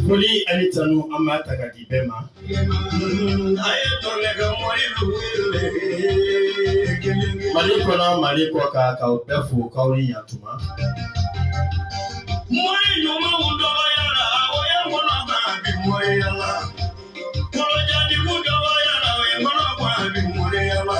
Foli ani tanu an b'a ta k'a di bɛɛ ma. Mali kɔnɔ Mali kɔ kan k'aw bɛɛ fo k'aw ni yantuma. Mɔgɔ ɲumanw dɔgɔyara o ye kɔnɔ kan a bɛ mɔgɔya la. Kɔnɔjɛtigiw dɔgɔyara o ye kɔnɔ kan a bɛ mɔgɔya la.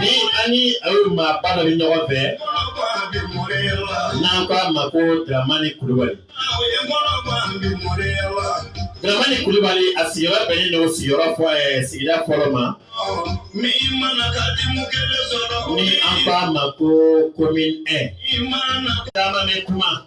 ni an ni a ye maaba dɔ bɛ ɲɔgɔn fɛ n'an ko a ma ko Dramani Kulubali Dramani Kulubali a sigiyɔrɔ bɛnnen don sigiyɔrɔ fɔ eh, sigida fɔlɔ ma ni an ko a ma ko commune 1 caman bɛ kuma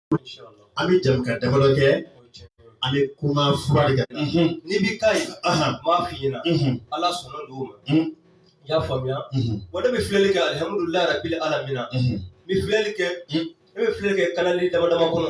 an bɛ jɛmukan damadɔ kɛ an bɛ kuma fura de kan n'i bɛ ka ye m'a f'i ɲɛna ala sɔnna don o ma i y'a faamuya wa ne bɛ filɛli kɛ alihamudulilayi rabili alamina n bɛ filɛli kɛ ne bɛ filɛli kɛ kanali dama dama kɔnɔ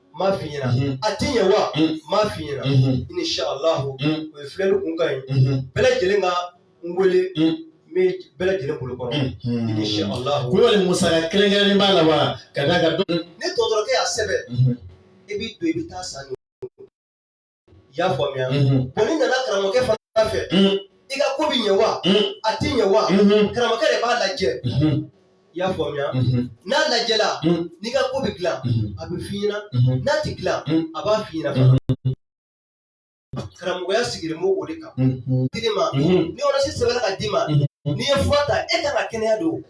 m'a f'i ɲɛna mhm. a tɛ ɲɛ wa mhm. m'a f'i ɲɛna mhm. inishaalahu o ye filɛli kunkan ye bɛɛ lajɛlen ka n wele n bɛ bɛɛ lajɛlen bolo kɔrɔ inishaalahu kulubali musaka kɛrɛnkɛrɛnnen b'a la wa ka d'a kan ni dɔgɔtɔrɔkɛ y'a sɛbɛn i b'i don i bɛ taa a san i y'a faamuya bɔn n'i nana karamɔgɔkɛ fana fɛ i ka ko bɛ ɲɛ wa a tɛ ɲɛ wa karamɔgɔkɛ de b'a lajɛ i y'a faamuya n'a lajɛla n'i ka ko bɛ dilan a b'a f'i ɲɛna n'a tɛ dilan a b'a f'i ɲɛna fana karamɔgɔya sigilen b'o de kan dili ma ni ɔridɔnansi sɛbɛnna k'a d'i ma n'i ye fura ta e kan ka kɛnɛya don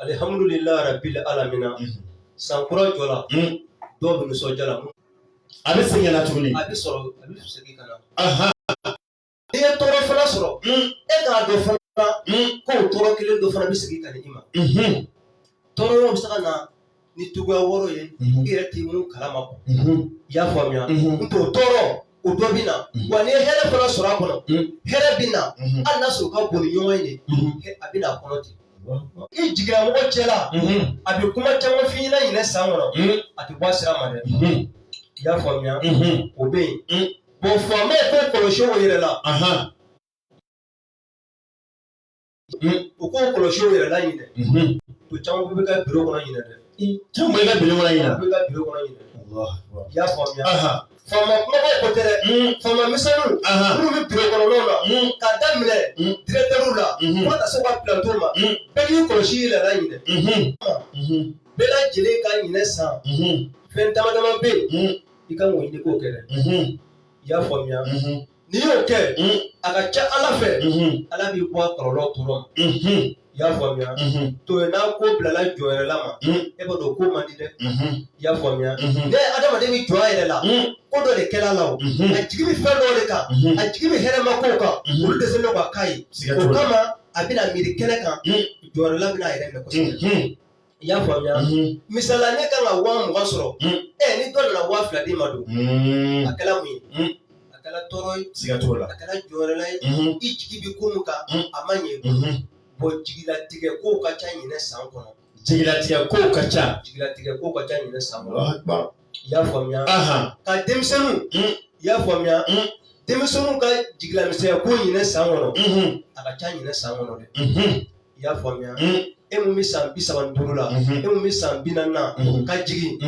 alihamdulila rabil alamina san kura jɔla dɔw bɛ nisɔndiya la a bɛ segin na tuguni a bɛ sɔrɔ a bɛ segin ka na n'i ye tɔɔrɔ fana sɔrɔ e k'a dɔn fana k'o tɔɔrɔ kelen dɔ fana bɛ segin ka na i ma tɔɔrɔ bɛ se ka na ni tuguya wɔɔrɔ ye i yɛrɛ tɛ minnu kalama kɔ i y'a faamuya n t'o tɔɔrɔ o dɔ bɛ na wa ni hɛrɛ fana sɔrɔ a kɔnɔ hɛrɛ bɛ na hali n'a sɔrɔ ka bon ni ɲɔgɔn ye de a bɛ na a kɔnɔ ten i jigira mɔgɔ cɛla a bɛ kuma caman f'i ɲɛna ɲinɛ san kɔnɔ a tɛ bɔ a sira ma dɛ i y'a faamuya o bɛ yen bɔn faamaw k'u kɔlɔsi u yɛrɛ la u k'u kɔlɔsi u yɛrɛ la ɲinɛ ko caman bɛ kɛ biro kɔnɔ ɲinɛ dɛ caman bɛ kɛ biro kɔnɔ ɲinɛ bɛ kɛ biro kɔnɔ ɲinɛ i y'a faamuya faama kunbabaw ko tɛ dɛ faama misɛnninw minnu bɛ biro kɔnɔnaw la ka daminɛ diretɛriw la fo ka taa se u ka pilantɔnw ma bɛɛ k'i kɔlɔsi i yɛrɛ la ɲinɛ bɛɛ lajɛlen ka ɲinɛ san fɛn dama dama bɛ yen i kan k'o ɲini k'o kɛ dɛ i y'a faamuya n'i y'o kɛ a ka ca ala fɛ ala b'i bɔ a kɔlɔlɔ tɔɔrɔ i y'a faamuya to n'a ko bilala jɔnyɛrɛla ma e b'a dɔn ko man di dɛ i y'a faamuya ni adamaden bɛ jɔn a yɛrɛ la ko dɔ de kɛra a la wa a jigi bɛ fɛn dɔ de kan a jigi bɛ hɛrɛma ko kan olu de se ka ka ɲi o kama a bɛna miiri kelen kan jɔnyɛrɛla bɛna a yɛrɛ minɛ kosɛbɛ I y'a faamuya misali ne ka kan ka waa mugan sɔrɔ ɛ ni dɔ nana waa fila di n ma dɔrɔn a kɛra mun ye a kɛra tɔɔrɔ ye siga t'o la a kɛra jɔnyɛrɛla ye i jigi bɛ ko min kan a ma ɲɛ bɔ jigilatigɛ ko ka ca ɲinɛ san kɔnɔ jigilatigɛ ko ka ca jigilatigɛ ko ka ca ɲinɛ san i y'a faamuya ka denmisɛnninw i y'a faamuya denmisɛnninw ka jigilamisɛnya ko ɲinɛ san kɔnɔ a ka ca ɲinɛ san kɔnɔ dɛ i y'a faamuya e mun bɛ san bi saba ni duuru la e mun bɛ san bi naani na ka jigin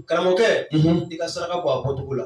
karamɔgɔkɛ i ka saraka bɔ a bɔcogo la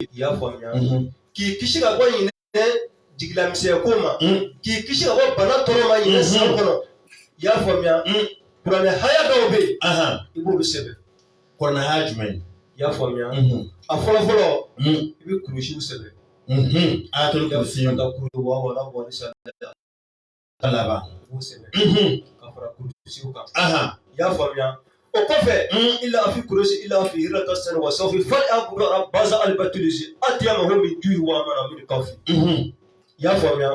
i y'a faamuya k'i kisi ka bɔ ɲinɛ jigilamisɛnya ko ma k'i kisi ka bɔ bana tɔɔrɔ ma ɲinɛ san kɔnɔ i y'a faamuya kuranɛ haya dɔw bɛ yen i b'olu sɛbɛn kuranɛ haya jumɛn i y'a faamuya a fɔlɔ fɔlɔ i bɛ kurusi sɛbɛn ayatul kursi ka kulu wa wala wali sa ka laban k'u sɛbɛn ka fara kurusiw kan i y'a faamuya o kɔfɛ ilafi kurusi ilafi yiri ka sɛnɛ wa sayfi falyabudu rabba haza alibatulisi atiyamahum min ju wa amana min kawfi i y'a faamuya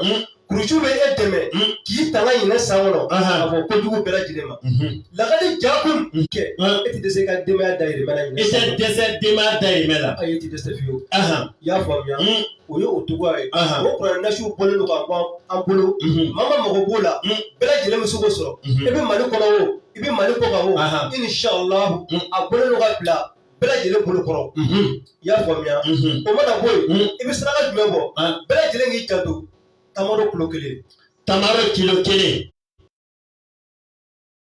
kurusiw bɛ e dɛmɛ k'i tanga ɲinɛ san kɔnɔ ka bɔ kojugu bɛɛ lajɛlen ma lakad jaakum kɛ e tɛ dɛsɛ i ka denbaya dayirimɛ la i tɛ dɛsɛ denbaya dayirimɛ la ayi e tɛ dɛsɛ fiyewu i y'a faamuya o ye o cogoya ye o kuran nasiw bɔlen don ka ban an bolo maa min mago b'o la bɛɛ lajɛlen bɛ se k'o sɔrɔ i bɛ mali kɔnɔ o i bɛ mali kɔkan o inshallah a bɔlen don ka bila bɛɛ lajɛlen bolo kɔrɔ i y'a faamuya o mana bɔ yen i bɛ saraka jumɛn bɔ bɛɛ lajɛlen k'i janto tamaro kilo kelen tamaro kilo kelen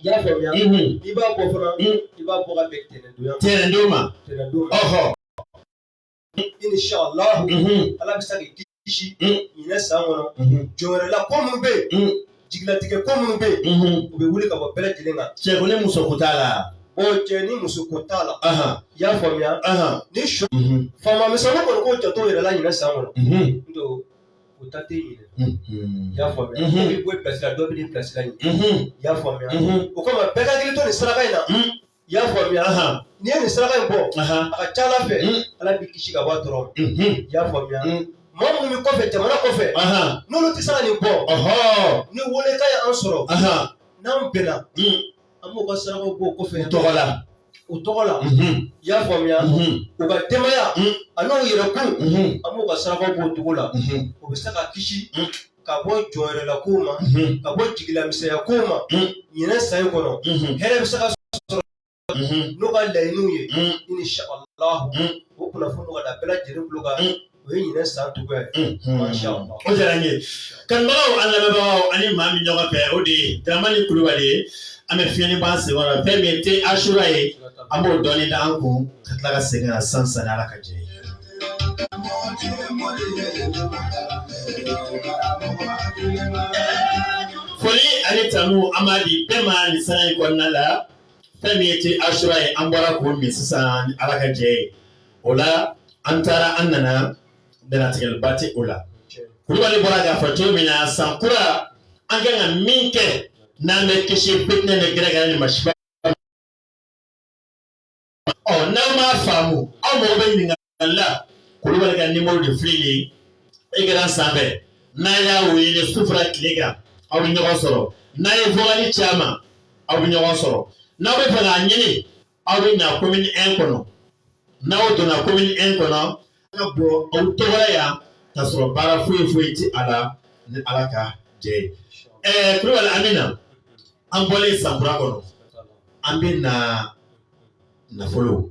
I y'a faamuya n'i b'a bɔ fana i b'a bɔ ka bɛn tɛnɛndon tɛnɛndon ma tɛnɛndon ma ɔhɔ inshallah ala bɛ se k'i kisi ɲinɛ san kɔnɔ jɔnyɛrɛla ko minnu bɛ yen jigilatigɛ ko minnu bɛ yen u bɛ wuli ka bɔ bɛɛ lajɛlen kan cɛ ko ni muso ko t'a la o cɛ ni muso ko t'a la i y'a faamuya ni su faama misɛnninw kɔni k'u janto u yɛrɛ la ɲinɛ san kɔnɔ n don O ta tɛ ɲinɛ i y'a faamuya dɔ bɛ bɔ pilasi la dɔ bɛ pilasi la ɲinɛ i y'a faamuya o kama bɛɛ ka hakili to nin saraka in na i y'a faamuya n'i ye nin saraka in bɔ a ka ca ala fɛ ala b'i kisi ka bɔ a tɔɔrɔ i y'a faamuya maa minnu bɛ kɔfɛ jamana kɔfɛ n'olu tɛ se ka nin bɔ ni welekan ye an sɔrɔ n'an bɛnna an b'u ka saraka bɔ o kɔfɛ u tɔgɔ la i y'a faamuya u ka denbaya a n'u yɛrɛ kun an b'u ka saraka bɔ o cogo la u bɛ se ka kisi ka bɔ jɔyɔrɔla kow ma ka bɔ jigilamisɛnya kow ma ɲinan san in kɔnɔ hɛrɛ bɛ se ka sɔrɔ n'u ka laɲiniw ye inisala o kunnafoni ka da bɛɛ lajɛlen tulo kan o ye ɲinan san cogo ye o diyara n ye kanubagaw an lamɛnbagaw ani maa min ɲɔgɔn fɛ o de ye daramani kulubali ye an bɛ fiɲɛni b'an sen kɔrɔ fɛn min ye te asura ye an b'o dɔɔnin da an kun ka tila ka segin ka san san ni ala ka jɛ ye foli ani tanu an b'a di bɛɛ ma nin san in kɔnɔna la fɛn min ye te asura ye an bɔra k'o min sisan ni ala ka jɛ ye o la an taara an nana dantigɛliba tɛ o la kulubali bɔra k'a fɔ cogo min na san kura an kan ka min kɛ n'an bɛ kisi fitinɛ ni gɛrɛgɛrɛ ni masiba n'aw m'a faamu aw mago bɛ ɲininkali la kulubali ka nimoro de filɛ nin ye ekran sanfɛ n'a y'a wele su fara tile kan aw bɛ ɲɔgɔn sɔrɔ n'a ye vokali ci a ma aw bɛ ɲɔgɔn sɔrɔ n'aw bɛ fɛ k'a ɲini aw bɛ na commune un kɔnɔ n'aw donna commune un kɔnɔ ka bɔ aw tɔgɔ yan ka sɔrɔ baara foyi foyi tɛ a la ni ala ka jɛ ye ɛɛ kulubali an bɛ na an bɔlen sankura kɔnɔ an bɛ na nafolo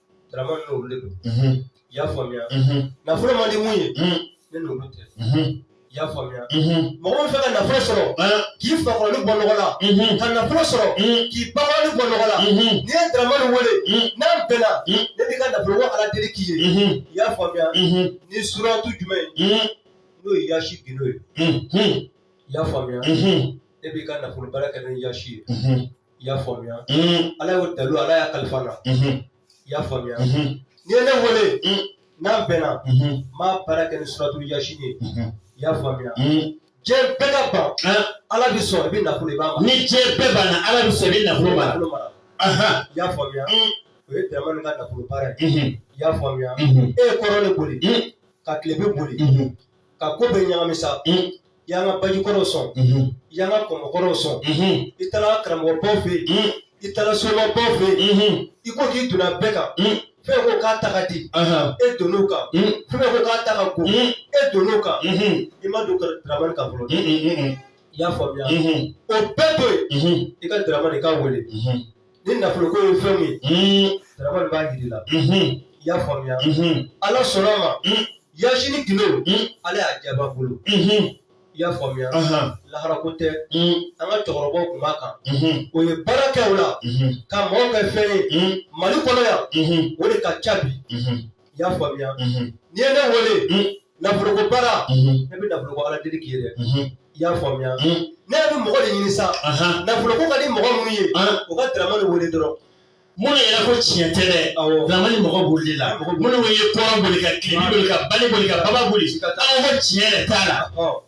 Daramani n'olu de don. Unhun. I y'a faamuya. Unhun. Nafolo man di mun ye. Un. Ne n'olu tɛ. Unhun. I y'a faamuya. Unhun. Mɔgɔ min fɛ ka nafolo sɔrɔ. An. K'i fakɔrɔni bɔ nɔgɔ la. Unhun. Ka nafolo sɔrɔ. Un. K'i bakɔrɔni bɔ nɔgɔ la. Unhun. N'i ye Daramani wele. Un. N'an bɛnna. Un. Ne b'i ka nafolo ko Ala deli k'i ye. Unhun. I y'a faamuya. Unhun. Ni suratu jumɛn ye. Un. N'o ye Yasi gindo ye. Unhun. I y'a faamuya. Unhun. Ne b'i ka nafolo baara kɛ ni Yasi ye. Unhun. i y'a faamuya ala y'o dalu ala y'a kalifa na i y'a faamuya n'i ye ne wele n'an bɛnna n b'a baara kɛ ni suratu yasini ye i y'a faamuya diɲɛ bɛɛ ka ban ala b'i sɔn i bɛ nafolo i b'a mara ni diɲɛ bɛɛ banna ala b'i sɔn i bɛ nafolo mara i y'a faamuya o ye daramani ka nafolo baara ye i y'a faamuya e ye kɔrɔn de boli ka tilebin boli ka ko bɛɛ ɲagami sa i y'an ka baji kɔrɔw sɔn i y'an ka kɔmɔ kɔrɔw sɔn i taara karamɔgɔbaw fɛ yen i taara somabaw fɛ yen i ko k'i donna bɛɛ kan fɛn ko k'a ta ka di e donn'o kan fɛn ko k'a ta ka go e donn'o kan i ma don daramani kan fɔlɔ i y'a faamuya o bɛɛ to yen i ka daramani k'a wele ni nafolo ko ye fɛn min ye Daramani b'a jira i la i y'a faamuya ala sɔnna a ma yasini gindo ala y'a jaabi a bolo i y'a faamuya lahara ko tɛ an ka cɛkɔrɔbaw tun b'a kan o ye baara kɛ o la ka mɔgɔw kɛ fɛn ye mali kɔnɔ yan o de ka ca bi i y'a faamuya n'i ye ne wele nafoloko baara ne bɛ nafoloko ala deli k'i ye dɛ i y'a faamuya ne bɛ mɔgɔ de ɲini sa nafoloko ka di mɔgɔ minnu ye u ka Daramani wele dɔrɔn minnu yɛrɛ ko tiɲɛ tɛ dɛ Daramani mɔgɔ boli la minnu ye kɔrɔn boli ka tilebin boli ka banin boli ka baba boli ka taa ko tiɲɛ yɛrɛ t'a la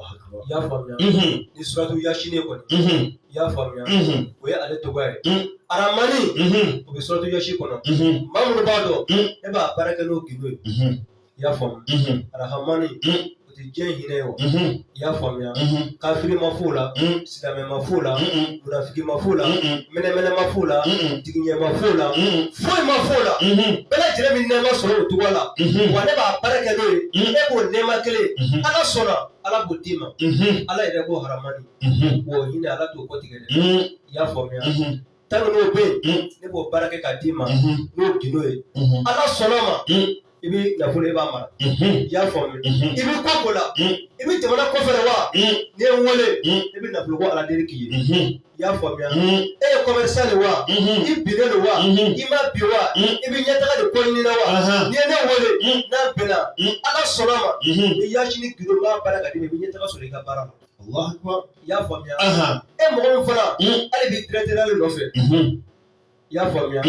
I y'a faamuya ni suratu yasini kɔni i y'a faamuya o ye ale tɔgɔ ye arahamani o bɛ suratu yasini kɔnɔ maa minnu b'a dɔn ne b'a baara kɛ n'o gindo ye i y'a faamu arahamani o tɛ diɲɛ hinɛ ye wa i y'a faamuya kafiri ma f'o la Silamɛ ma f'o la, munafiki ma f'o la, mɛnɛmɛnɛ ma f'o la, tigiɲɛ ma f'o la, foyi ma f'o la. Bɛɛ lajɛlen bɛ nɛɛma sɔrɔ o tɔgɔ la. Wa ne b'a baara kɛ n'o ye. Ne b'o nɛɛma kelen, Ala sɔnna, Ala b'o d'i ma. Ala yɛrɛ ko arahamani. Wa o hinɛ Ala t'o kɔtigɛ dɛ. I y'a faamuya? tant que n'o bɛ yen ne b'o baara kɛ k'a d'i ma n'o gindo ye ala sɔnna a ma i bɛ nafolo i b'a mara i y'a faamu i bɛ ko ko la i bɛ jamana kɔfɛ de wa n'i ye n wele i bɛ nafolo ko ala deli k'i ye i y'a faamuya e ye commerçant de wa i binnen don wa i ma bin wa i bɛ ɲɛtaga de ko ɲini na wa n'i ye ne wele n'a bɛnna ala sɔnna a ma yasini gindo b'a baara k'a d'i ma i bɛ ɲɛtaga sɔrɔ i ka baara la y'a faamuya e mɔgɔ min fana ale bɛ directeur de nɔfɛ i y'a faamuya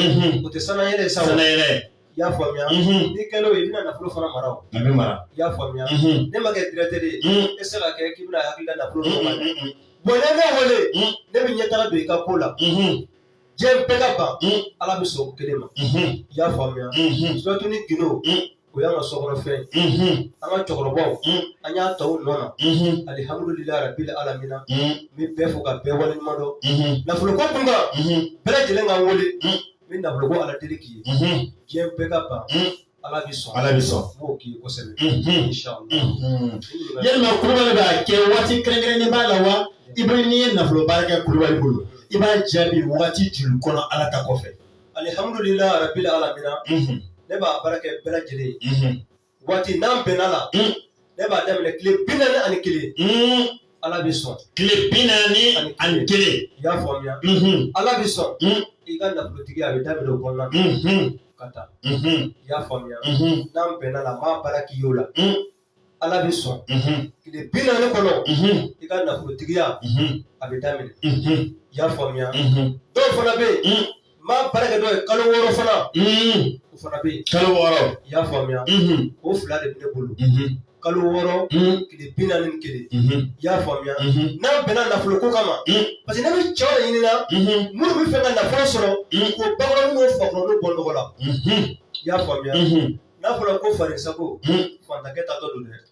o tɛ sannayɛlɛ sa wa i y'a faamuya n'i kɛlen o ye i bɛna nafolo fana mara o a bɛ mara i y'a faamuya ne ma kɛ directeur ye e tɛ se ka kɛ k'i bɛna hakili la nafolo dɔ ma dɛ bɔn n'i ye ne wele ne bɛ ɲɛtaga don i ka ko la diɲɛ bɛɛ ka ban mm. ala bɛ sɔn o kelen ma mm-hmm. i y'a faamuya mm-hmm. suratu nin gindo mm. o y'an ka sokɔnɔfɛn mm-hmm. an ka cɛkɔrɔbaw an y'a ta u nɔ na alihamudulilayi rabili alamina n bɛ bɛɛ fo ka bɛɛ waleɲuman dɔn nafoloko kun kan bɛɛ lajɛlen ka n wele n bɛ nafoloko ala deli k'i ye diɲɛ bɛɛ ka ban ala bɛ sɔn ala bɛ sɔn n b'o k'i ye kosɛbɛ. Mhm. Inshallah. Mhm. yalima kulubali b'a kɛ waati kɛrɛnkɛrɛnnen b'a la wa i bɛ n'i ye nafolo baara kɛ kulubali bolo i b'a jaabi waati joli kɔnɔ ala ta kɔfɛ. alihamudulila rabili alamina Mhm. ne b'a baara kɛ bɛɛ lajɛlen ye Mhm. waati n'an bɛnna la Mm. Ne b'a daminɛ tile bi naani ani kelen. Ala bɛ sɔn. Tile bi naani ani kelen. I y'a faamuya. Ala bɛ sɔn. I ka nafolotigiya bɛ daminɛ o kɔnɔna na. Ka taa. I y'a faamuya. N'an bɛnna la, n b'a baara k'i ye o la. Ala bɛ sɔn. Tile bi naani kɔnɔ. I ka nafolotigiya. A bɛ daminɛ. I y'a faamuya. Dɔw fana bɛ yen. N b'a baara kɛ dɔw ye kalo wɔɔrɔ fana o fana bɛ yen kalo wɔɔrɔ i y'a faamuya o fila de bɛ ne bolo kalo wɔɔrɔ tile bi naani ni kelen i y'a faamuya n'an bɛnna nafolo ko kama parce que ne bɛ cɛw de ɲini na minnu bɛ fɛ ka nafolo sɔrɔ k'o bakɔrɔnin n'o fakɔrɔnin bɔ nɔgɔ la i y'a faamuya n'a fɔra ko faden sago fantakɛ ta dɔ don dɛ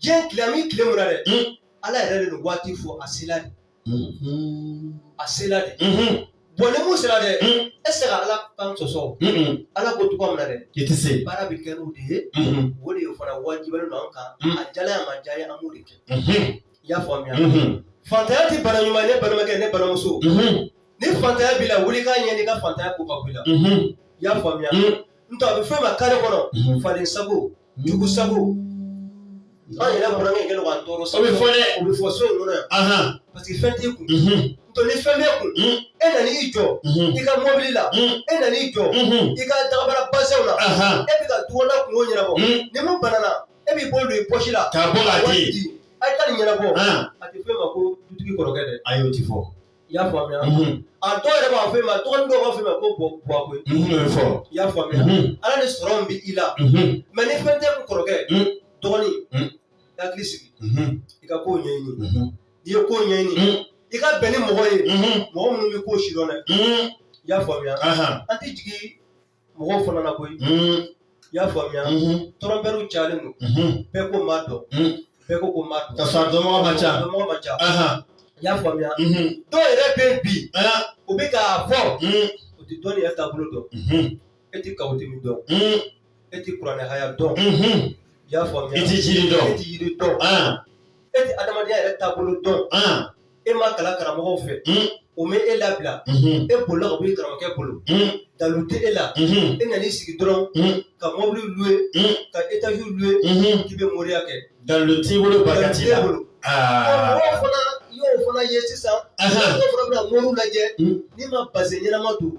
diɲɛ tile an bɛ tile min na dɛ Ala yɛrɛ de nin waati fɔ a sela de a sela de bon ni mun sera dɛ e tɛ se ka Ala kan sɔsɔ o Ala ko cogoya min na dɛ i tɛ se baara bɛ kɛ n'o de ye o de fana wajibiyalen don an kan a diyala an ye a ma diya an ye an b'o de kɛ i y'a faamuya fantanya tɛ bana ɲuman ye ne balimakɛ ne balimamuso ni fantanya b'i la wuli k'a ɲɛɲini i ka fantanya ko ka bɔ i la i y'a faamuya n'o tɛ a bɛ f'e ma kare kɔnɔ faden sago jugu sago an yɛrɛ bɔra min kɛlen k'an tɔɔrɔ sabu o bɛ fɔ dɛ o bɛ fɔ so in kɔnɔ yan parce que fɛn t'i kun to ni fɛn b'e kun e nana i jɔ i ka mɔbili la e nana i jɔ i ka dagabara basɛn la e bɛ ka dukɔnɔna kungo ɲɛnabɔ ni mun banana e b'i bolo don i pɔsi la k'a bɔ k'a di a ye taa nin ɲɛnabɔ a tɛ f'e ma ko dutigi kɔrɔkɛ dɛ ayi o tɛ fɔ I y'a faamuya a dɔw yɛrɛ b'a fɔ e ma dɔgɔnin dɔw b'a fɔ e ma ko buwa koyi i y'a faamuya ala ni sɔrɔ min bɛ i la mɛ ni fɛn t'e kun kɔrɔkɛ dɔgɔnin i hakili sigi i ka ko ɲɛɲini n'i ye ko ɲɛɲini i ka bɛn ni mɔgɔ ye mɔgɔ minnu bɛ ko sidɔn dɛ i y'a faamuya an tɛ jigin mɔgɔw fana na koyi i y'a faamuya tɔrɔnpɛriw cayalen don bɛɛ ko n b'a dɔn bɛɛ ko ko n b'a dɔn ka sɔrɔ dɔnbaga man ca dɔnbaga man ca i y'a faamuya dɔw yɛrɛ bɛ yen bi u bɛ k'a fɔ u tɛ dɔnni yɛrɛ taabolo dɔn e tɛ kawatimi dɔn e tɛ kuranɛ aya dɔn i y'a faamuya i tɛ jiri dɔn i tɛ yiri dɔn e tɛ adamadenya yɛrɛ taabolo dɔn e ma kalan karamɔgɔw fɛ o ma e labila e bolila ka bɔ i karamɔgɔkɛ bolo dalu tɛ e la e nan'i sigi dɔrɔn ka mɔbili luwe ka etaji luwe k'i bɛ moriya kɛ dalu t'i bolo barika t'i la mɔgɔw fana y'o fana ye sisan mɔgɔw fana bɛna moriw lajɛ n'i ma base ɲɛnama don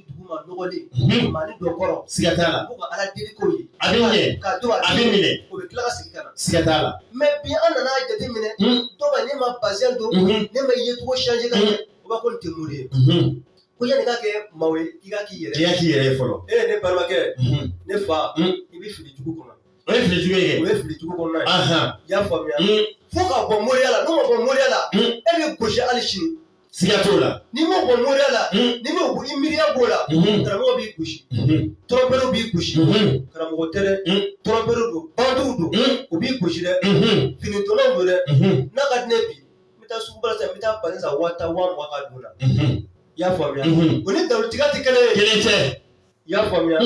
mɛ bi an nana jate minɛ dɔw bɛ ne ma bazɛn don ne ma yecogo sanze ka ɲɛ u b'a ko nin tɛ mori ye ko yanni ka kɛ maa ye i ka k'i yɛrɛ i k'i yɛrɛ ye fɔlɔ e ne balimakɛ ne fa i bɛ fili jugu kɔnɔ o ye filijugu ye o ye filijugu kɔnɔna ye i y'a faamuya fo ka bɔ moriya la n'o ma bɔ moriya la e bɛ gosi hali sini siga t'o la n'i ma bɔ moriya la n'i m'i miiriya b'o la karamɔgɔ b'i gosi tɔrɔnpɛriw b'i gosi karamɔgɔ tɛ dɛ tɔrɔnpɛriw don bandiw don u b'i gosi dɛ finitɔlaw don dɛ n'a ka di ne bi n bɛ taa sugu ba la sisan n bɛ taa bazɛn san waa tan waa mugan ka don n na i y'a faamuya o ni dalutigiya tɛ kelen ye kelen tɛ i y'a faamuya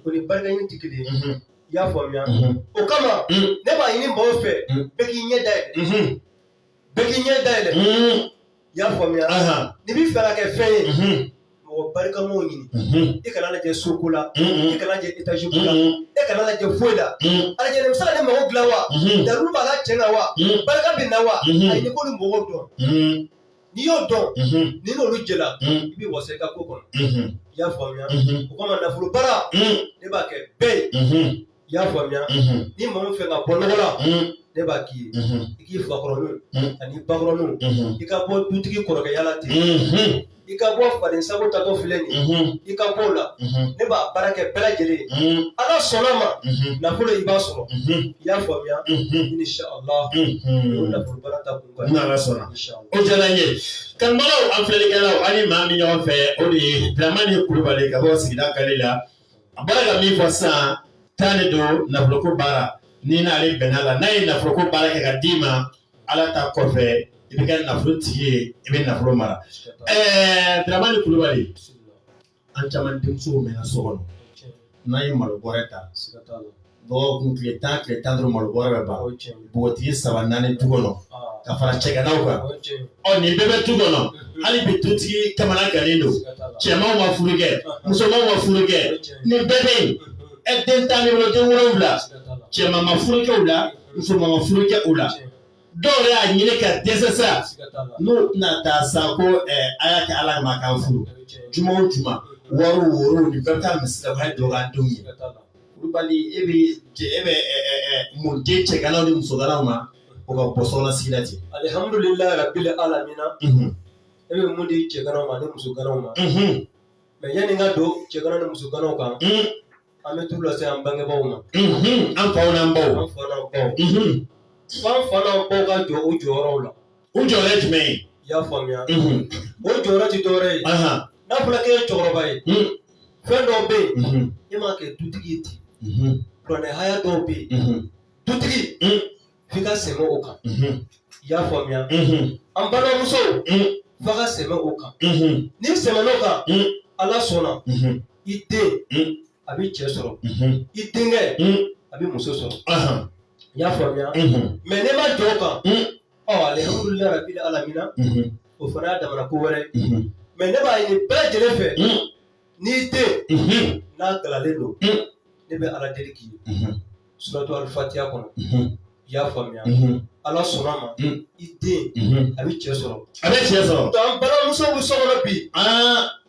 o ni barikaɲini tɛ kelen ye i y'a faamuya o kama ne b'a ɲini mɔgɔw fɛ bɛɛ k'i ɲɛ da yɛlɛ Bɛɛ k'i ɲɛ da yɛlɛ i y'a faamuya n'i b'a fɛ ka kɛ fɛn ye mɔgɔ barikama ɲini i kana lajɛ soko la i kana lajɛ etaziko la e kana lajɛ foyi la a lajɛ nin bɛ se ka ne mago dilan wa dalu b'a la cɛ la wa barika bɛ nin na wa a ɲini k'olu mɔgɔw dɔn n'i y'o dɔn ni n'olu jɛla i bɛ wasa i ka ko kɔnɔ i y'a faamuya o kama nafolo baara ne b'a kɛ bɛɛ ye i y'a faamuya ni maa min fɛ ka bɔ nɔgɔ la ne b'a k'i ye i k'i fakɔrɔninw ani bakɔrɔninw i ka bɔ dutigi kɔrɔkɛya la ten i ka bɔ faden sago taatɔ filɛ nin ye i ka bɔ o la ne b'a baara kɛ bɛɛ lajɛlen ala sɔnna ma nafolo i b'a sɔrɔ i y'a faamuya insha Allah o nafolo baara ta kun kan n'ala sɔnna o diyara n ye kanubagaw an filɛlikɛlaw ani maa min ɲɔgɔn fɛ o de ye Dramani Kulubali ka bɔ sigida kale la A bɔra ka min fɔ sisan tan de don nafoloko baara n'i n'ale bɛnna a la n'a ye nafoloko baara kɛ ka d'i ma ala ta kɔfɛ i bɛ kɛ nafolo tigi ye i bɛ nafolo mara ɛɛ Dramani Kulubali an caman denmusow mɛnna so kɔnɔ n'a ye malo bɔrɛ ta dɔgɔkun tile tan tile tan duuru malo bɔrɛ bɛ ban npogotigi saba naani du kɔnɔ ka fara cɛganaw kan ɔ nin bɛɛ bɛ du kɔnɔ hali bi dutigi kamana gannen don cɛmanw ma furu kɛ musomanw ma furu kɛ nin bɛɛ bɛ yen ɛ den tan ni wolo den wolonwula cɛman ma furu kɛ u la musoman ma furu kɛ u la dɔw yɛrɛ y'a ɲini ka dɛsɛ sa n'u tɛna taa sa ko ɛ a y'a kɛ ala kama k'an furu juma o juma wariw worow nin bɛɛ bɛ taa misiri la o y'a dɔgɔya denw ye kulubali e bɛ e bɛ mun di cɛganaw ni musoganaw ma u ka bɔ sokɔnɔ sigi la ten alihamudulilayi rabili alamina e bɛ mun di cɛganaw ma ni musoganaw ma mɛ yanni n ka don cɛganaw ni musoganaw kan an bɛ turu lase an bangebaaw ma an faw n'an baw an faw n'an baw ka jɔ u jɔyɔrɔw la O jɔyɔrɔ ye jumɛn ye? I y'a faamuya. Unhun. O jɔyɔrɔ ti dɔwɛrɛ ye. Ahan. N'a fɔra k'e ye cɛkɔrɔba ye. Un. Fɛn dɔw bɛ yen. Unhun. E ma kɛ dutigi ye ten. Unhun. Kuranɛ haya dɔw bɛ yen. Unhun. Dutigi. Un. F'i ka sɛmɛ o kan. Unhun. I y'a faamuya. Unhun. An balimamuso. Un. F'a ka sɛmɛ o kan. Unhun. N'i sɛmɛn'o kan. Un. Ala sɔnna. Unhun. I den. Un. A bɛ cɛ sɔrɔ. Unhun. I denkɛ. Un. A bɛ muso sɔrɔ. Ahan. I y'a faamuya. Unhun. Mais n'i ma jɔ o kan. Un. ɔ alihamudulila rabili alamina mhm. o fana y'a damana ko wɛrɛ mhm. mais ne b'a ɲini bɛɛ lajɛlen fɛ mhm. n'i den n'a galalen don ne bɛ ala deli k'i ye suratu alifatiya kɔnɔ i y'a faamuya ala sɔnn'a ma i den a bɛ cɛ sɔrɔ a bɛ cɛ sɔrɔ an balimamuso bɛ so kɔnɔ bi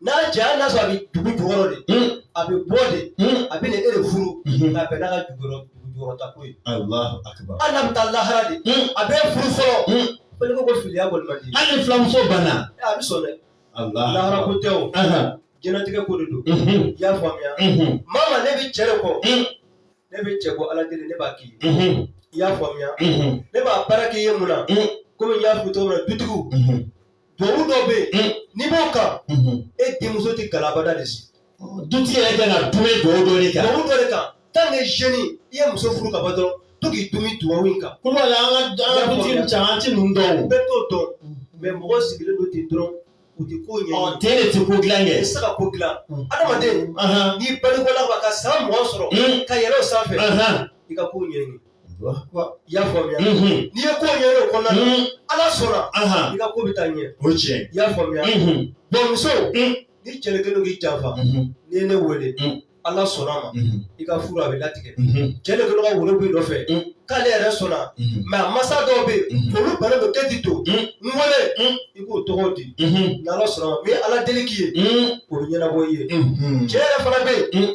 n'a cɛ hali n'a sɔrɔ a bɛ dugu jukɔrɔ de mm. a bɛ bɔ de mm. a bɛ na e de furu mm-hmm. k'a bɛn n'a ka jukɔrɔta ko ye hali n'a bɛ taa lahara de mm. a bɛ furu fɔlɔ fɛnɛ ko ko filiya kɔni man di hali ni filiyamuso banna eh, a bɛ sɔn dɛ lahara ko tɛ o jɛnatigɛ ko de don mm-hmm. i y'a faamuya mm-hmm. mama ne bɛ cɛ de kɔ ne bɛ cɛ ko ala deli ne b'a k'i ye i y'a faamuya ne b'a baara k'i ye mun na komi n y'a fɔ cogo min na dutigiw duwawu dɔ bɛ yen hmm. n'i b'o kan hmm. e denmuso tɛ gala abada de sigi dutigi yɛrɛ kan ka dumɛ duwawu dɔ de kan duwawu dɔ de kan tant que jeune i ye muso furu ka ban dɔrɔn to k'i dumɛ duwawu in kan ko la an ka an ka dutigi caman ti ninnu dɔn o bɛɛ t'o dɔn mais mɔgɔ sigilen don ten dɔrɔn u tɛ ko ɲɛ ɔ ten de tɛ ko dilan kɛ i tɛ se ka ko dilan adamaden n'i balikula ka san mugan sɔrɔ ka yɛlɛ o sanfɛ i ka ko ɲɛɲini y'a faamuya n'i ye ko ɲɛɲini o kɔnɔna na ala sɔnna i ka ko bɛ taa ɲɛ o tiɲɛ i y'a faamuya bon muso ni cɛ kɛlen don k'i janfa n'i ye ne wele ala sɔnn'a ma i ka furu a bɛ latigɛ cɛ de kelen ka wolo b'i nɔfɛ k'ale yɛrɛ sɔnna mais a masa dɔw bɛ yen olu bannen don k'e ti to n wele i k'o tɔgɔ di n'ala sɔnn'a ma ni n ye ala deli k'i ye o bɛ ɲɛnabɔ i ye cɛ yɛrɛ fana bɛ yen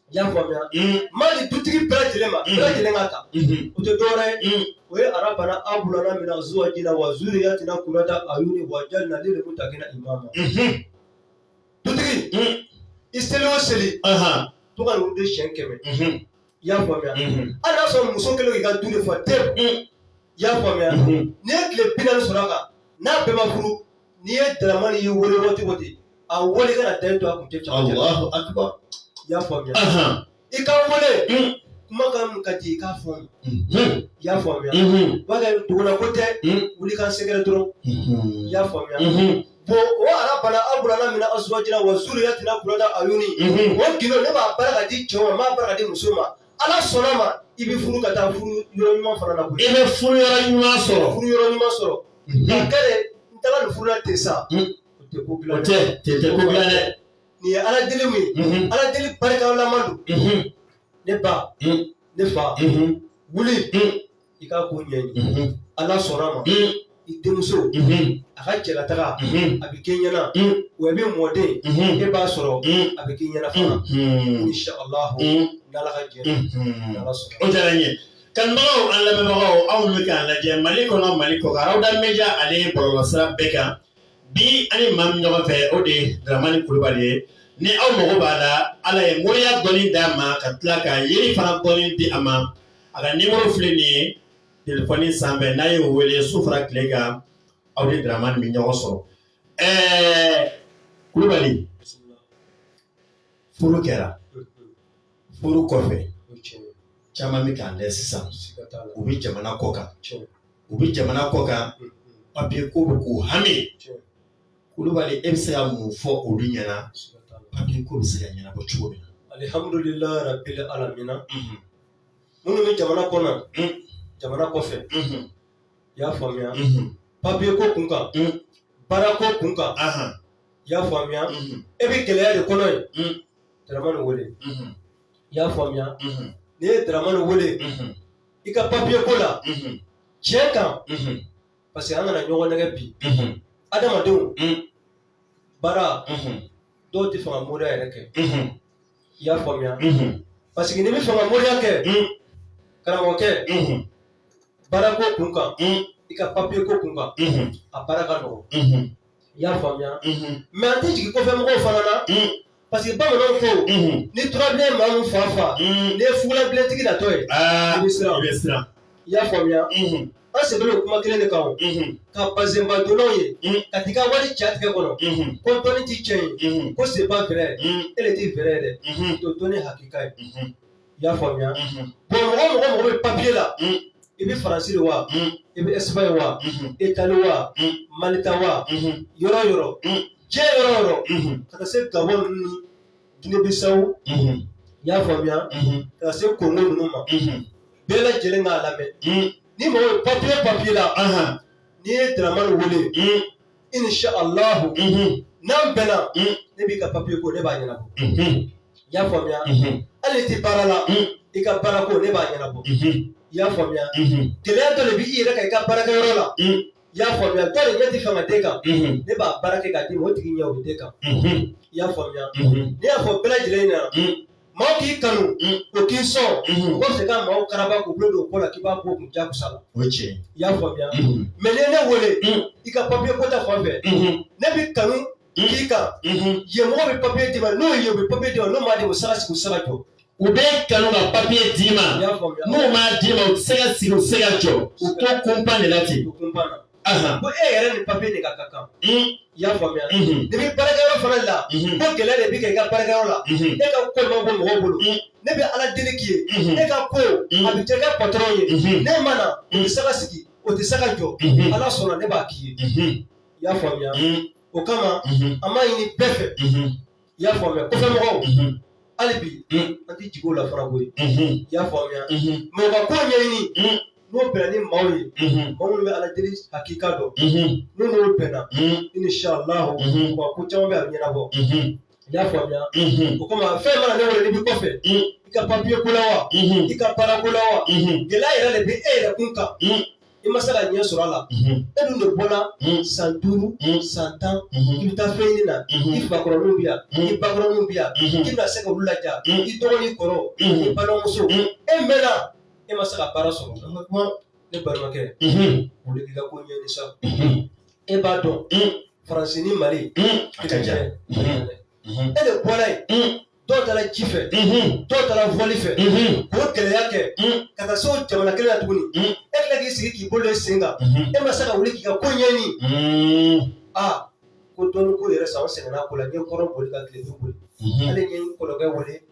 I y'a faamuya n b'a di dutigi bɛɛ lajɛlen ma bɛɛ lajɛlen k'a ta o tɛ dɔwɛrɛ ye o ye arabana abulana mina azuwajina wa zuriyatina kurata ayuni wa jalina lil mutakina imama dutigi i seli o seli to ka de siyɛn kɛmɛ i y'a faamuya hali n'a sɔrɔ muso kɛlen k'i ka du de fa tewu i y'a faamuya n'i ye tile binaani sɔrɔ a kan n'a bɛɛ ma furu n'i ye dramani y'i wele waati o waati a wele kana da to a kun tɛ cɛmancɛ la Allahu akbar i y'a faamuya Ahan. i ka wele Mm. kumakan min ka di i k'a fɔ Mhm. i y'a faamuya Mhm. b'a kɛ dugula ko tɛ Mm. wuli k'an sɛgɛrɛ dɔrɔn i Mhm. y'a faamuya Mhm. bon o arabana abulana mina azuwajina wa zuriyatina kurata ayuni Mhm. o gindo ne b'a baara ka di cɛw ma n b'a baara ka di muso ma Ala sɔnna ma i bɛ furu ka taa furu yɔrɔ ɲuman fana na koyi, i bɛ furu yɔrɔ ɲuman sɔrɔ, furu yɔrɔ ɲuman sɔrɔ, unhun, nka kɛlɛ n taara nin furu la ten sa, un, o tɛ ko dilan, o tɛ, tɛ tɛ ko dilan dɛ, nin ye Ala deli min ye, unhun, Ala deli barikalaman don, unhun, ne ba, un, ne fa, unhun, wuli, un i k'a ko ɲɛɲini ala sɔnna ma i denmuso a ka cɛlataga a bɛ kɛ ɲɛna wa i bɛ mɔden e b'a sɔrɔ a bɛ kɛ ɲɛna fana insha Allah n'ala ka jɛ n'ala sɔnna o diyara n ye kanubagaw an lamɛnbagaw aw bɛ k'a lajɛ mali kɔnɔ mali kɔ kan Rawuda Media ale bɔlɔlɔsira bɛɛ kan bi an ni maa min ɲɔgɔn fɛ o de ye Daramani Kulubali ye ni aw mago b'a la ala ye moriya dɔnni d'a ma ka tila ka yiri fana dɔnni di a ma a ka nimɔrɔ filɛ nin ye telefɔni sanfɛ n'a y'o weele su fara tile kan aw ni Daramani bɛ ɲɔgɔn sɔrɔ ɛɛ kulubali furu kɛra furu kɔfɛ caman bɛ k'an lajɛ sisan u bɛ jamana kɔ kan u bɛ jamana kɔ kan papiye ko bɛ k'u hami kulubali e bɛ se ka mun fɔ olu ɲɛna papiye ko bɛ se ka ɲɛnabɔ cogo min na alihamdulilahi rabil alamina minnu bɛ jamana kɔnɔ jamana kɔfɛ i y'a faamuya papiye ko kun kan baara ko kun kan i y'a faamuya e bɛ gɛlɛya de kɔnɔ ye dramani wele i y'a faamuya n'i ye dramani wele i ka papiye ko la tiɲɛ kan parce que an kana ɲɔgɔn nɛgɛn bi adamadenw baara dɔw tɛ fɛ ka moriya yɛrɛ kɛ i y'a faamuya parce que n'i bɛ fɛ ka moriya kɛ karamɔgɔkɛ baarako kun kan i ka papiye ko kun kan a baara ka nɔgɔ i y'a faamuya mais an tɛ jigin kɔfɛ mɔgɔw fana na parce que bamananw ko ni turabilen maa min fa faga n'i ye fugulabilentigi natɔ ye i bɛ siran i y'a faamuya an sɛbɛn don kuma kelen de kan o ka bazɛnba donnaw ye ka t'i ka wari c'a tɛgɛ kɔnɔ ko dɔnni ti tiɲɛ ye ko c'est pas vrai e de ti vrai ye dɛ to dɔnni hakika ye i y'a faamuya bon mɔgɔ mɔgɔ mɔgɔ bɛ papiye la i bɛ faransi de wa i bɛ ɛsipaɲi wa itali wa malita wa yɔrɔ yɔrɔ diɲɛ yɔrɔ yɔrɔ ka taa se gabɔn ninnu gine bisawo i y'a faamuya ka taa se kongo ninnu ma bɛɛ lajɛlen k'a lamɛn ni mɔgɔ papi papiye la n'i ye dramani wele insha Allahu n'an bɛnna ne b'i ka papiye ko ne b'a ɲɛnabɔ i y'a faamuya hali i tɛ baara la i ka baara ko ne b'a ɲɛnabɔ i y'a faamuya gɛlɛya dɔ de b'i yɛrɛ kan i ka baarakɛyɔrɔ la i y'a faamuya dɔ de ɲɛ ti fɛn ka den kan ne b'a baara kɛ k'a d'i ma o tigi ɲɛ o bɛ den kan i y'a faamuya ne y'a fɔ bɛɛ lajɛlen ɲɛna maaw k'i kanu o k'i sɔn o kɔfɛ ka maaw karaba k'u bolo don ko la k'i b'a bɔ kun jakusa la o ye tiɲɛ ye i y'a faamuya mɛ n'i ye ne wele i ka papiye ko ta fan fɛ ne bɛ kanu k'i kan yen mɔgɔ bɛ papiye d'i ma n'o ye u bɛ papiye d'i ma n'o m'a di o tɛ se ka sigi u tɛ se ka jɔ u bɛ kanu ka papiye d'i ma n'u m'a d'i ma u tɛ se ka sigi u tɛ se ka jɔ u to kunpa de la ten ko e yɛrɛ ni papiye de ka kan i y'a faamuya n'i bɛ baarakɛyɔrɔ fana la ko gɛlɛya de bɛ kɛ i ka baarakɛyɔrɔ la e ka ko ma bɔ mɔgɔw bolo ne bɛ ala deli k'i ye e ka ko a bɛ diya i ka patɔrɔn ye n'e ma na o tɛ se ka sigi o tɛ se ka jɔ ala sɔnna ne b'a k'i ye i y'a faamuya o kama an b'a ɲini bɛɛ fɛ i y'a faamuya kɔfɛ mɔgɔw hali bi an tɛ jigin o la fana koyi i y'a faamuya mɛ u ka ko ɲɛɲini n'o bɛnna ni maaw ye maaw minnu bɛ ala deli hakika dɔn n'u n'o bɛnna inshallah u ka ko caman bɛ a bɛ ɲɛnabɔ i y'a faamuya o kama fɛn mana ne wele n'i bɛ kɔfɛ i ka papiye ko la wa i ka baara ko la wa gɛlɛya yɛrɛ de bɛ e yɛrɛ kun kan i ma se ka ɲɛ sɔrɔ a la e dun de bɔra san duuru san tan i bɛ taa fɛn ɲini na i fakɔrɔninw bɛ yan i bakɔrɔninw bɛ yan i bɛna se ka olu laja i dɔgɔ n'i kɔrɔ i balimamuso e mɛnna e ma se ka baara sɔrɔ ne balimakɛ wuli k'i ka ko ɲɛɲini sa e b'a dɔn faransi ni mali a ka jan e de bɔra yen dɔw taara ji fɛ dɔw taara vɔli fɛ k'o gɛlɛya kɛ ka taa se o jamana kelen na tuguni e tila k'i sigi k'i bolo sen kan e ma se ka wuli k'i ka ko ɲɛɲini aa ko dɔnni ko yɛrɛ san o sɛgɛnna ko la n ye kɔrɔn boli ka tile boli ale ye kɔrɔkɛ wele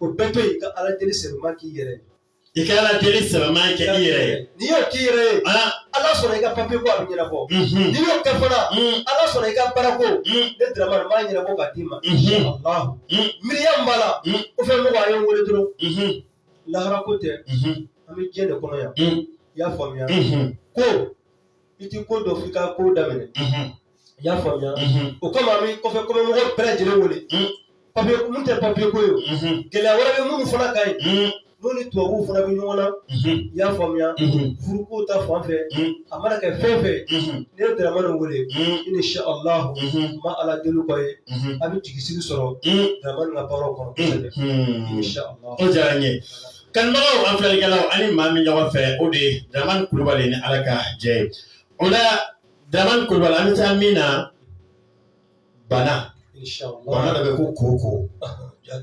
O bɛɛ to yen ka ala deli sɛbɛma k'i yɛrɛ ye i ka ala deli sɛbɛma kɛ i yɛrɛ ye n'i y'o k'i yɛrɛ ye ala sɔnna i ka papiye ko a bɛ ɲɛnabɔ n'i y'o kɛ fana ala sɔnna i ka baara ko ne daramani b'a ɲɛnabɔ ka d'i ma inshallah miiriya min b'a la kɔfɛ mɔgɔ a ye n wele dɔrɔn laharako tɛ an bɛ diɲɛ de kɔnɔ yan i y'a faamuya ko i tɛ ko dɔn fo i ka ko daminɛ I y'a faamuya o kama an bɛ kɔfɛ mɔgɔ bɛɛ lajɛlen wele papiye minnu tɛ papiye ko ye gɛlɛya wɛrɛ bɛ minnu fana kan yen n'u ni tubabuw fana bɛ ɲɔgɔn na i y'a faamuya furuko ta fan fɛ a mana kɛ fɛn fɛn n'i ye daramani wele inshallah ma ala deli k'o ye a bɛ jigi sigi sɔrɔ daramani ka baaraw kɔnɔ o diyara n ye kanubagaw an filɛlikɛlaw ani maa min ɲɔgɔn fɛ o de ye daramani kulubali ni ala ka jɛ ye o la Daramani kulubali an bɛ taa min na bana bana dɔ bɛ ko koko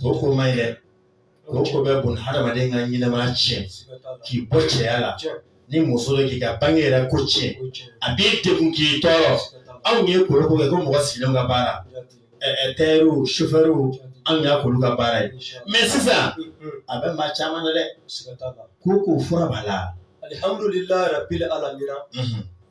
koko ma ɲi koko bɛ bon hadamaden ka ɲɛnamaya tiɲɛ k'i bɔ cɛya la ni muso don k'i ka bange yɛrɛ ko tiɲɛ a b'i degun k'i tɔɔrɔ anw ye kolo ko kɛ ko mɔgɔ sigilen ka baara tayɛriw sofɛriw anw y'a k'olu ka baara ye mɛ sisan a bɛ maa caman na dɛ koko fura b'a la alihamdulila bi ala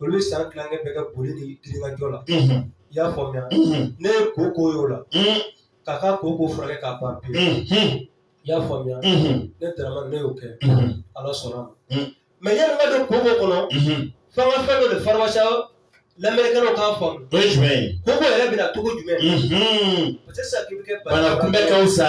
olu bɛ san tilankɛ bɛɛ kɛ boli ni girinkajɔ la i y'a faamuya ne ye koko y'o la k'a ka koko furakɛ k'a ban pewu i y'a faamuya ne daramani ne y'o kɛ ala sɔnna a ma mɛ yanni n ka don koko kɔnɔ f'an ka fɛn dɔ de faranfasiya lamɛnnikɛlaw k'a faamu o ye jumɛn ye koko yɛrɛ bɛ na cogo jumɛn parce que sisan k'i bɛ kɛ bana kunbɛn ka wusa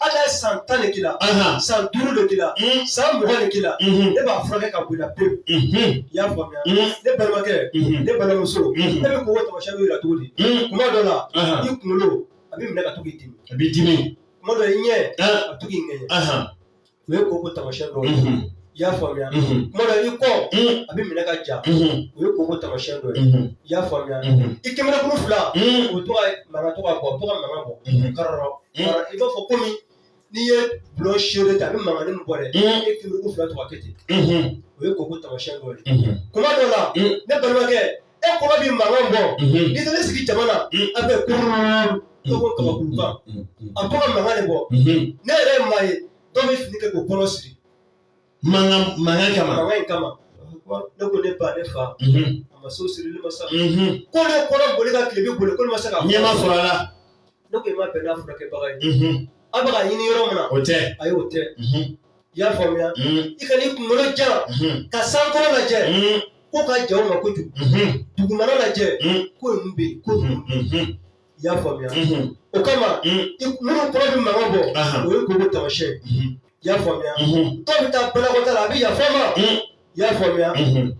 Ala ye san tan de k'i la, anhan, san duuru de k'i la, un, san mugan de k'i la, unhun, ne b'a furakɛ ka bɔ i la pewu, unhun, i y'a faamuya, un, ne balimakɛ, unhun, ne balimamuso, unhun, e bɛ koko tamasiyɛn dɔ jira cogo di? un, Kuma dɔ la, anhan, i kunkolo a bɛ minɛ ka to k'i dimi, a b'i dimi, kuma dɔ i ɲɛ, an, a bɛ to k'i ŋɛɲɛ, anhan. o ye koko tamasiyɛn dɔ ye i y'a faamuya kuma dɔ i kɔ a bɛ minɛ ka ja o ye koko tamasiyɛn dɔ ye i y'a faamuya i kunberekuru fila o bɛ to ka mankan to ka bɔ to ka mankan bɔ karɔ i b'a fɔ komi n'i ye bulon seere ta a bɛ mankan min bɔ dɛ e kunberekuru fila to ka kɛ ten o ye koko tamasiyɛn dɔ ye kuma dɔ la ne balimakɛ e kɔnɔ bɛ mankan bɔ n'i taara i sigi jama na a bɛ kulu dɔ ko kabakulukan a bɛ to ka mankan de bɔ ne yɛrɛ ye maa ye dɔ bɛ fini kɛ k'u kɔnɔ siri mankan mankan kama mankan in kama ne ko ne ba ne fa a ma se sirili ma sa ko ne kɔnɔ boli ka tile bɛ boli ko ne ma se ka nɛɛma sɔrɔ a la ne ko i ma bɛn n'a furakɛbaga ye a bɛ k'a ɲini yɔrɔ min na o tɛ ayi o tɛ i y'a faamuya i kan'i kunkolo jan ka sankolo lajɛ k'o ka jan n ma kojugu dugumana lajɛ ko ninnu bɛ yen ko ninnu i y'a faamuya o kama minnu kɔnɔ bɛ mankan bɔ o ye koko tamasiyɛn i y'a faamuya dɔw bɛ taa banakɔta la a bɛ yafa n ma i y'a faamuya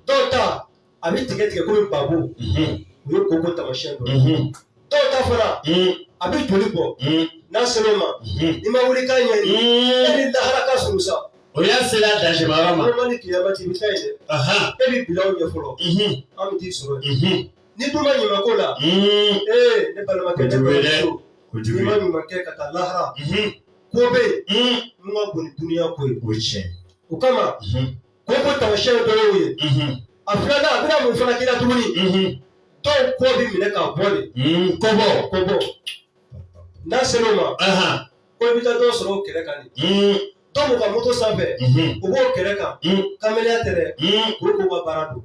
dɔw ta a bɛ tigɛ tigɛ komi babo o ye koko tamasiyɛn dɔ ye dɔw ta fana a bɛ joli bɔ n'a ser'o ma n'i ma wuli k'a ɲɛɲini e ni lahara ka surun sa o y'a sera dasima yɔrɔ ma walima ni kiyama cɛ i bɛ taa yen dɛ e bɛ bil'anw ɲɛ fɔlɔ an bɛ t'i sɔrɔ yen n'i dun ma ɲuman ko la ee ne balimakɛ ne balimamuso n'i ma ɲuman kɛ ka taa lahara ko bɛ yen min ka bon ni dunuya ko ye o tiɲɛ o kama koko tamasiyɛn dɔ y'o ye a filanan a bɛna mun fana k'i la tuguni dɔw kɔ bɛ minɛ ka bɔ de kɔbɔ kɔbɔ n'a ser'o ma ko i bɛ taa dɔw sɔrɔ u kɛrɛ kan de dɔw b'u ka moto sanfɛ u b'u kɛrɛ kan kamalenya tɛ dɛ koko ka baara don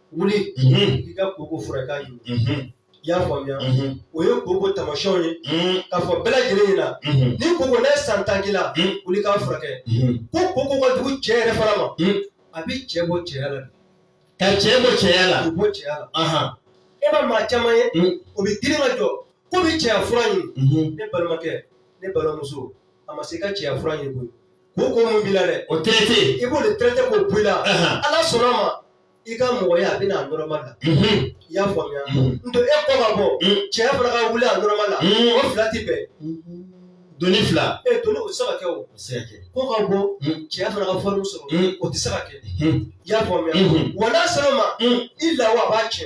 wuli i ka koko furakɛ ye i y'a faamuya o ye koko taamasiyɛnw ye k'a fɔ bɛɛ lajɛlen ɲɛna ni koko n'a ye san tan k'i la wuli k'a furakɛ ko koko ka jugu cɛ yɛrɛ fana ma a bɛ cɛ bɔ cɛya la ka cɛ bɔ cɛya la bɔ cɛya la e ma maa caman ye o bɛ girin ka jɔ ko bɛ cɛya fura ɲini ne balimakɛ ne balimamuso a ma se ka cɛya fura ɲini koyi koko min b'i la dɛ o traité i b'o de traité k'o bɔ i la ala sɔnna a ma i ka mɔgɔya a bɛ na normal la i y'a faamuya nɔntɛ e kɔ ka bɔ cɛya fana ka wuli a normal la o fila tɛ bɛn doni fila e doni o tɛ se ka kɛ o kɔ ka bɔ cɛya fana ka forme sɔrɔ o tɛ se ka kɛ i y'a faamuya wa n'a sera o ma i lawa a b'a kɛ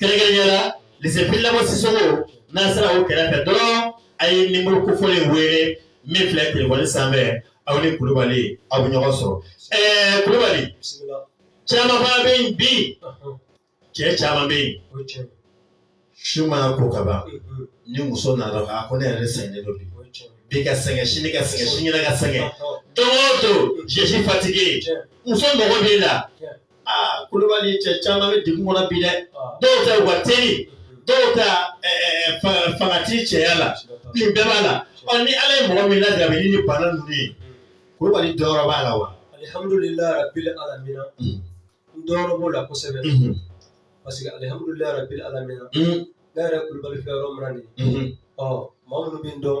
kɛrɛnkɛrɛnnenya la lycée Fily Dabo Sisoko n'aw sera o kɛrɛfɛ dɔrɔn a ye nimoro kofɔlen in wele min filɛ telefɔni sanfɛ aw ni Kulubali aw bɛ ɲɔgɔn sɔrɔ ɛɛ eh, Kulubali caman fana bɛ yen bi cɛ caman bɛ yen su mana ko ka ban mm-hmm. ni muso nana a ko ne yɛrɛ sɛgɛnnen don bi bi ka sɛgɛn sini ka sɛgɛn sini ka sɛgɛn don o don je suis fatigué muso mago b'e la. aa kulubali cɛ caman bɛ degun kɔnɔ bi dɛ dɔw ta u ka teli dɔw ta fanga tɛ cɛya la nin bɛɛ b'a la ɔ ni ala ye mɔgɔ min lajarabi ni bana ninnu ye kulubali jɔyɔrɔ b'a la wa alihamdulilayi rabbil alamin n jɔyɔrɔ b'o la kosɛbɛ parce que alihamdulilayi rabbil alamin ne yɛrɛ kulubali filɛ yɔrɔ min na nin ɔ maa minnu bɛ n dɔn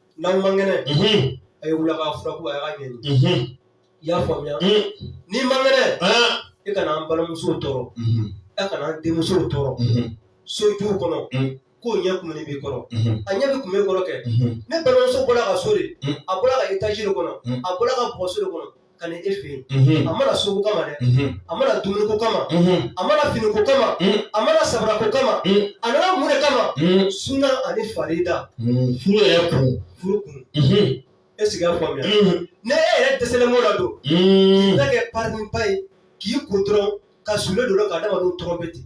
n'aw man kɛnɛ a ye wuli a ka fura ko a y'a ɲɛɲini i y'a faamuya n'i man kɛnɛ e kana an balimamusow tɔɔrɔ e kana an denmusow tɔɔrɔ sojuw kɔnɔ k'o ɲɛ kumunen b'i kɔrɔ a ɲɛ bɛ kumu e kɔrɔ kɛ ne balimamuso bɔra ka so de a bɔra ka étage de kɔnɔ a bɔra ka bɔgɔso de kɔnɔ ka na e fɛ yen a ma na sogo kama dɛ a ma na dumuni ko kama a ma na fini ko kama a ma na sabara ko kama a nana mun de kama suna ani farida furu yɛrɛ kun furu kun e sigi a faamuya n'e yɛrɛ dɛsɛlen b'o la don k'i ta kɛ pariba ye k'i ko dɔrɔn ka sulu don ka adamadenw tɔɔrɔ bɛ ten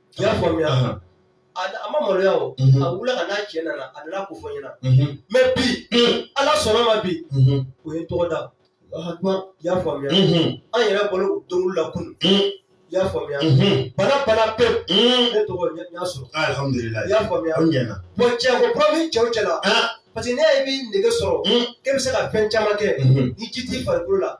I y'a faamuya a a ma maloya o a wulila ka n'a cɛ nana a nana ko fɔ n ɲɛna mais bi ala sɔnna ma bi o ye n tɔgɔ da i y'a faamuya an yɛrɛ bolo o don la kunun i y'a faamuya bana banna pewu ne tɔgɔ n y'a sɔrɔ i y'a faamuya aw ɲɛna bon cɛ ko kura min cɛw cɛ la parce que ne y'a ye i bɛ nege sɔrɔ k'e bɛ se ka fɛn caman kɛ ni ji t'i farikolo la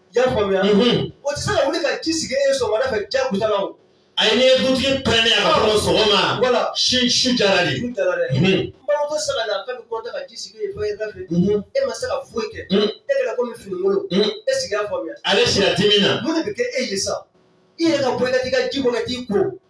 I y'a faamuya o tɛ se ka wuli ka ji sigi e sɔgɔmada fɛ jagoya la o a ye n'i ye dutigi pɛrɛnnen a ka fɔ sɔgɔma walasi su jara de su jara dɛ n balimamuso sera la k'a bɛ kɔnta ka ji sigi e fɔ e da fɛ e ma se ka foyi kɛ e kɛra komi finikolon e sigi y'a faamuya ale sira dimi na mun de bɛ kɛ e ye sa i yɛrɛ ka bɔ i ka t'i ka ji bɔ ka t'i ko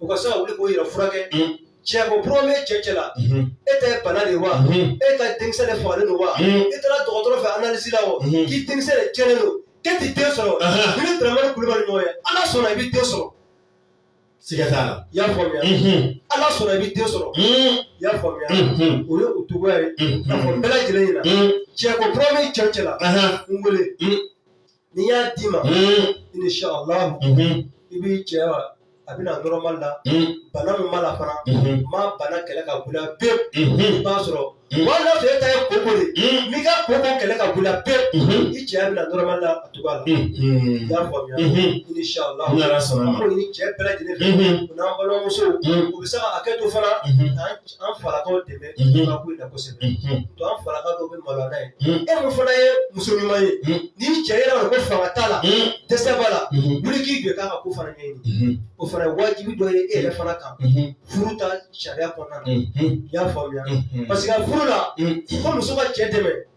u ka se ka wuli k'u yɛrɛ furakɛ cɛko problème bɛ cɛ cɛ la e ta ye bana de wa e ka denkisɛ de fagalen don wa e taara dɔgɔtɔrɔ fɛ analyse la o k'i denkisɛ de cɛnnen don k'e tɛ den sɔrɔ i ni Dramane Kulubali ɲɔgɔn ye ala sɔnna i bɛ den sɔrɔ siga t'a la i y'a faamuya ala sɔnna i bɛ den sɔrɔ i y'a faamuya o ye o cogoya ye a fɔ bɛɛ lajɛlen ɲɛ na cɛko problème bɛ cɛ cɛ la n wele ni n y'a d'i ma inshallah i b'i cɛya bɛ na nɔrɔma la bana min b'a la fana n b'a bana kɛlɛ ka bɔ i la pewu i b'a sɔrɔ wala e ta ye koko de n b'i ka koko kɛlɛ ka bɔ i la pewu i cɛya bɛ na nɔrɔma la a cogoya la i y'a faamuya inshallah cɛ bɛɛ lajɛlen n'an balimamusow u bɛ se ka hakɛ to fana an falakaw dɛmɛ ka ko in na kosɛbɛ to an falaka dɔw bɛ maloya n'a ye e min fana ye muso ɲuman ye n'i cɛ yera ko fanga t'a la dɛsɛ b'a la wuli k'i jɔ k'a ka ko fana ɲɛɲini o fana ye wajibi dɔ ye e yɛrɛ fana kan furu ta sariya kɔnɔna na i y'a faamuya parce que furu la ko muso ka cɛ dɛmɛ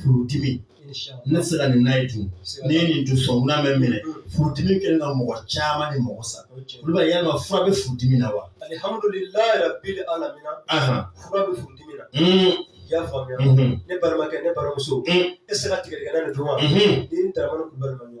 furudimi ne tɛ se ka nin n'a ye dun ne ye nin dun sɔnkunan bɛ n minɛ furudimi kɛlen ka mɔgɔ caman ni mɔgɔ sa Kulubali yalima fura bɛ furudimi na wa i y'a faamuya ne balimakɛ ne balimamuso e tɛ se ka tigadɛgɛna dun wa ni Dramane ɲɔgɔn ye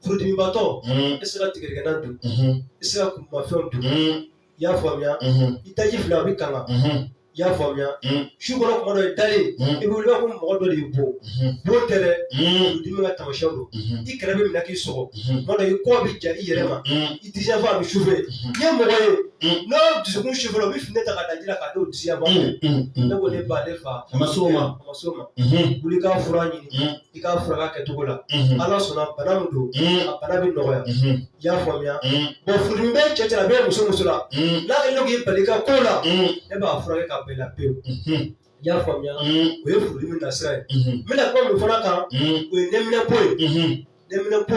furudimibatɔ i tɛ se ka tigadɛgɛna dun i tɛ se ka kumufɛnw dun i y'a faamuya i daji fila a bɛ kanga i y'a faamuya su kɔnɔ tuma dɔ i dalen i bɛ wuli ko mɔgɔ dɔ de y'i bon bon tɛ dɛ furudimi ka taamasiyɛnw don i kɛrɛ bɛ minɛ k'i sɔgɔ tuma dɔ i kɔ bɛ ja i yɛrɛ ma i disi yanfan a bɛ chauffer n'i ye mɔgɔ ye n'o dusukun chauffer la o bɛ fini ta ka da ji la k'a d'o disi yanfan ne ko ne ba ne fa a ma s'o ma a ma s'o ma wuli k'a fura ɲini i k'a furakɛ kɛcogo la ala sɔnna bana min don a bana bɛ nɔgɔya i y'a faamuya bon furudimi bɛ cɛ cɛ la a bɛ muso muso la n'a kɛlen don k'i bali i ka kow la e b'a furakɛ ka bɔ i la pewu i y'a faamuya o ye furudimi nasira ye n bɛna kuma min fana kan o ye nɛminɛpo ye nɛminɛpo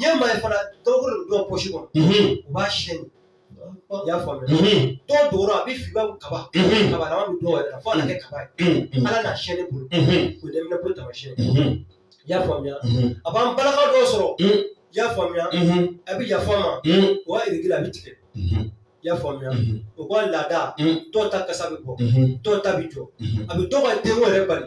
Ɲɛ ma ye fana dɔw bolo don pɔsi kɔnɔ u b'a siyɛn i y'a faamuya dɔw dugu a bɛ fin kaba kaba dɔw yɛrɛ fɔ kɛ kaba hali n'a siyɛn bolo ko dɛ ko taamasiyɛn i y'a faamuya a b'an balaka dɔw sɔrɔ i y'a faamuya a bɛ yafa n ma o règles a bɛ tigɛ i y'a faamuya u ka laada dɔw ta kasa bɛ bɔ dɔw ta bɛ jɔ a bɛ dɔw ka denwolo bali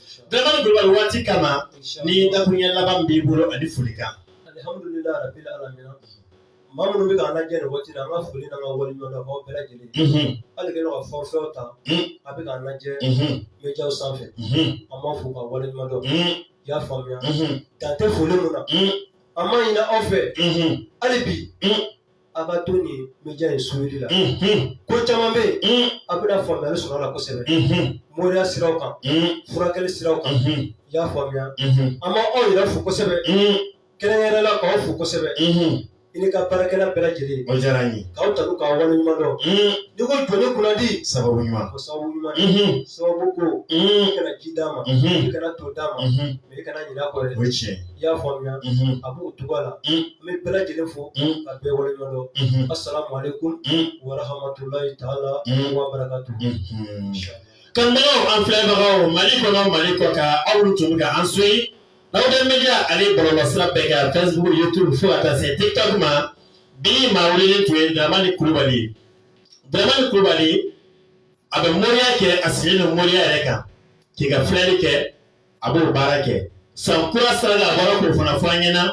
Dramani kulubali waati kama ni dakurunya laban b'i bolo ani foli kan. Alihamudulilayi rabili alamina maa minnu bɛ k'an lajɛ nin waati la an ka foli n'an ka waleɲumandɔn b'aw bɛɛ lajɛlen ye. Unhun. Hali kɛlen don ka forfait ta Un. a bɛ k'an lajɛ Unhun. média sanfɛ Unhun. an b'a fo k'a waleɲumandɔn Un. i y'a faamuya Unhun. dan tɛ foli min na Un. an b'a ɲini aw fɛ Unhun. hali bi Un. A ka to nin média in suivre la ko caman bɛ yen a bɛna faamuyali sɔrɔ a la kosɛbɛ moriya sira kan furakɛli sira kan i y'a faamuya an b'aw yɛrɛ fo kosɛbɛ kɛrɛnkɛrɛnnenya la k'aw fo kosɛbɛ i n'i ka baarakɛla bɛɛ lajɛlen diyara n ye k'aw tanu k'aw waleɲuman dɔn n'i ko jɔnni kunnadi sababu ɲuman sababu ɲuman sababu ko i kana ji d'a ma kana to d'a ma mɛ i kana ɲinɛ a kɔ dɛ o ye tiɲɛ ye i y'a faamuya a b'o cogoya la n bɛ bɛɛ lajɛlen fo ka bɛɛ waleɲuman dɔn asalamualekum warahamatulayi taala wa barakatu kanubagaw an filɛbagaw mali kɔnɔ mali kɔ kan aw tun bɛ ka an suivre aw bɛ media ani bɔlɔlɔsira bɛɛ kan facebook youtube fo ka taa se tiktok ma bi maa weleelen tun ye dramani kulubali ye dramani kulubali a bɛ moriya kɛ a sigilen don moriya yɛrɛ kan k'i ka filɛli kɛ a b'o baara kɛ san kura sira la a bɔra k'o fana fɔ an ɲɛna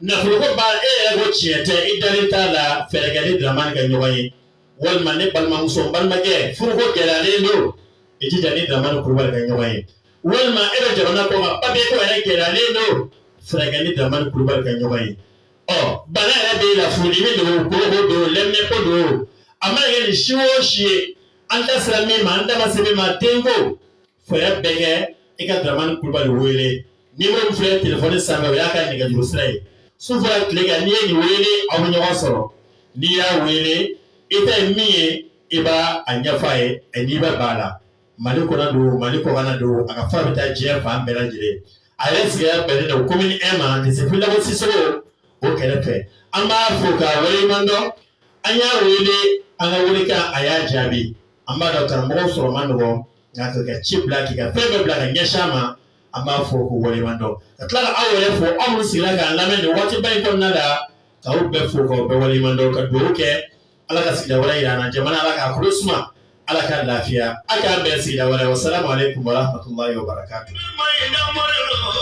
nafoloko baara e yɛrɛ ko tiɲɛ tɛ i dalen t'a la fɛɛrɛ kɛ ni Dramane ka ɲɔgɔn ye walima ne balimamuso n balimakɛ furuko gɛlɛyalen don i jija ni Dramane Kulubali ka ɲɔgɔn ye walima e bɛ jamana kɔ kan papiye ko yɛrɛ gɛlɛyalen don fɛɛrɛ kɛ ni Dramane Kulubali ka ɲɔgɔn ye ɔ bana yɛrɛ b'e la furudimi don koko don lɛminɛnpo don a mana kɛ nin si o si ye an da sera min ma an da ma se min ma denko fɛɛrɛ bɛɛ kɛ i ka dramani kulubali wele numéro min filɛ telefɔni sanfɛ o y'a ka nɛgɛjuru sira ye su fara tile kan n'i ye nin wele aw bɛ ɲɔgɔn sɔrɔ n'i y'a wele i ta ye min ye i b'a a ɲɛfɔ a ye a n'i bɛ b'a la mali kɔnɔ don mali kɔkan don a ka fura bɛ taa diɲɛ fan bɛɛ lajɛlen a yɛrɛ sigiyɔrɔ bɛnnen don commune un ma lycée fily dabo sissoko o kɛrɛfɛ an b'a fo k'a waleɲuman dɔn an y'a wele an ka welekan a y'a jaabi an b'a dɔn karamɔgɔ sɔrɔ man nɔgɔn nka ka ci bila k'i ka fɛn bɛɛ bila ka ɲɛsin an ma an b'a fo k'o waleɲuman dɔn ka tila k'aw yɛrɛ fo aw minnu sigira k'an lamɛn nin waatiba in kɔnɔna la k'aw bɛɛ fo k'aw bɛɛ waleɲuman dɔn ka dugawu kɛ ala ka sigida wɛrɛ jira an na jamana ala k'a kolo suma ala ka lafiya a k'an bɛn sigida wɛrɛ wasalamu alekum warahamatulayi wabarakatu